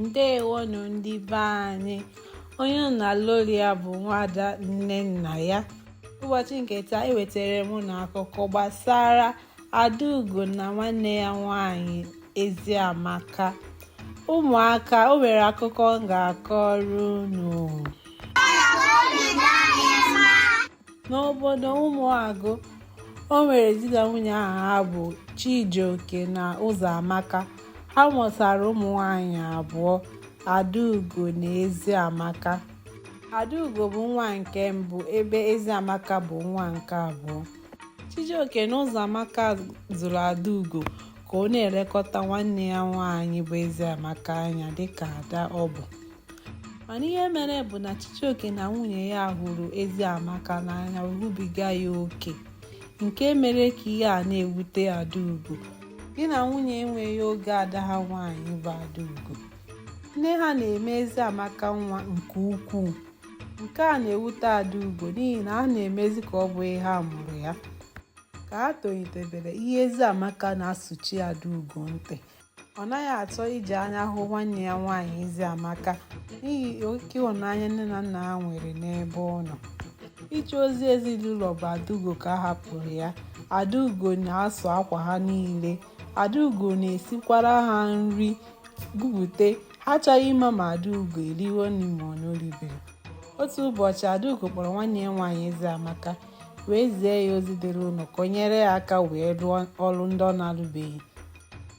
ndewonụ ndị be anyị onye unu na-anụ olu ya bụ nwada nnennaya ụbọchị nke taa ewetara m unu akụkọ gbasara adaugo na nwanne ya nwanyị eziamaka ụmụaka o nwere akụkọ m ga-akọrọ unu n'obodo ụmụagụ o nwere di na nwunye aha ha bụ chijioke na ụzọamaka ha mụtara ụmụ nwanyị abụọ adaugo na eziamaka adaugo bụ nwa nke mbụ ebe eziamaka bụ nwa nke abụọ chijioke na ụzọamaka zụrụ adaugo ka ọ na-elekọta nwanne ya nwaanyị bụ eziamaka anya dịka ada ọ bụ mana ihe mere bụ na Chijioke na nwunye ya hụrụ Eziamaka n'anya o rubiga ya oke nke mere ka ihe a na-ewute Adaugo di na nwunye enweghị oge ada ha nwaanyị bụ Adaugo nne ha na-eme Eziamaka nwa nke ukwuu nke a na-ewute Adaugo n'ihi na ha na-emezi ka ọ bụghị ha mụrụ ya ka ha tolitebere ihe Eziamaka na-asụchi Adaugo ntị ọ naghị achọ iji anya hụ nwanne ya nwaanyị eziamaka n'ihi oke ịhụnanya nne na nna ha nwere n'ebe ọ nọ ije ozi ezinụlọ bụ adaugo ka a hapụrụ ya adaugo na-asụ akwa ha niile adaugo na-esikwara ha nri bupute ha achọghị ịma ma adaugo eriwo nri ma ọ na o ribeghị otu ụbọchị adaugo kpọrọ nwanne ya nwaanyị eziamaka wee zie ya ozi dịrị ụlọ ka o nyere ya aka wee rụọ ọrụ ndị ọ na-alụbeghị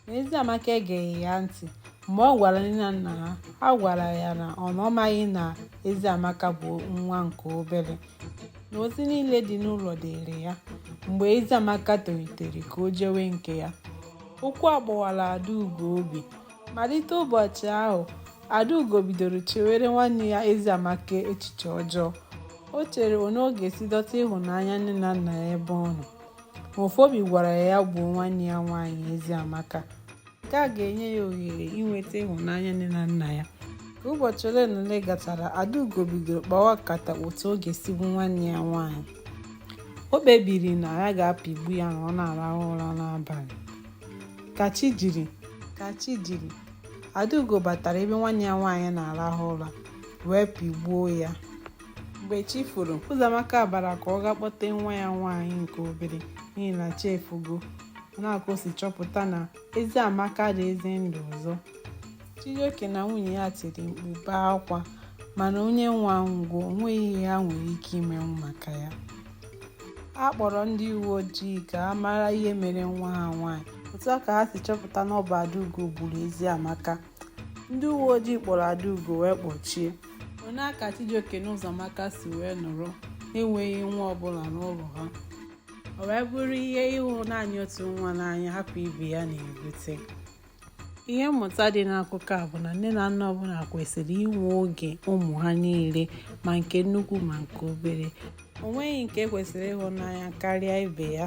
ma eziamaka egeghị ya ntị mgbe ọ gwara nne na nna ha ha gwara ya na ọ na ọ maghị na eziamaka bụ nwa nke obere na ozi niile dị n'ụlọ dịịrị ya mgbe eziamaka tolitere ka o jewe nke ya okwu a gbawara adaugo obi malite ụbọchị ahụ adaugo bidoro chewere nwanne ya eziamaka echiche ọjọọ o chere otu ọ ga-esi dọta ịhụnanya nne na nna ya ebe ọ nọ Ofu obi gwara ya ya gbuo nwanne ya nwaanyị Eziamaka. Nke a ga-enye ya ohere inweta ịhụnanya nne na nna ya. Ka ụbọchị ole na ole gachara, Adaugo bidoro kpawa nkata otu ọ ga-esi gbu nwanne ya nwaanyị. O kpebiri na ya ga-apịgbu ya ma ọ na-arahụ ụra n'abalị. Ka chi jiri, ka chi jiri, Adaugo batara ebe nwanne ya nwaanyị na-arahụ ụra wee pịgbuo ya. mgbe chi foro ụzọamaka bara ka ọ ga kpọte nwa ya nwaanyị nke obere n'ihi na chi efogo nke a ka o si chọpụta na eziamaka adịghịzi ndụ ọzọ chijioke na nwunye ya tiri mkpu bee akwa mana onye nwụrụ anwụọ o nweghị ihe ha nwere ike imenwu maka ya a kpọrọ ndị uwe ojii ka a mara ihe mere nwa ha nwaanyị otu a ka ha si chọpụta na ọ bụ Adaugo gburu eziamaka ndị uwe ojii kpọrọ Adaugo wee kpọchie ọ nya ka Chijioke na Ụzọamaka si wee nọrọ enweghị nwa ọbụla n'ụlọ ha o wee bụrụ ihe ịhụ naanị otu nwa n'anya hapụ ibe ya na-ebute ihe mmụta dị n'akụkọ a bụ na nne na nna ọbụla kwesịrị inwe oge ụmụ ha niile ma nke nnukwu ma nke obere o nweghị nke kwesịrị ịhụ n'anya karịa ibe ya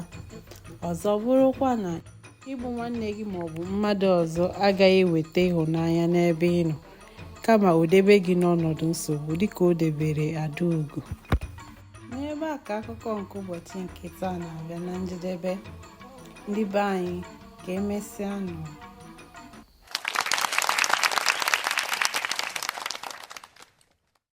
ọzọ bụrụkwa na igbu nwanne gị ma ọ bụ mmadụ ọzọ agaghị eweta ịhụnanya n'ebe ị nọ kama o debe gị n'ọnọdụ nsogbu dịka o debere Adaugo n'ebe a ka akụkọ nke ụbọchị nke taa na-abịa na njedebe ndị be anyị ka emesịa nụ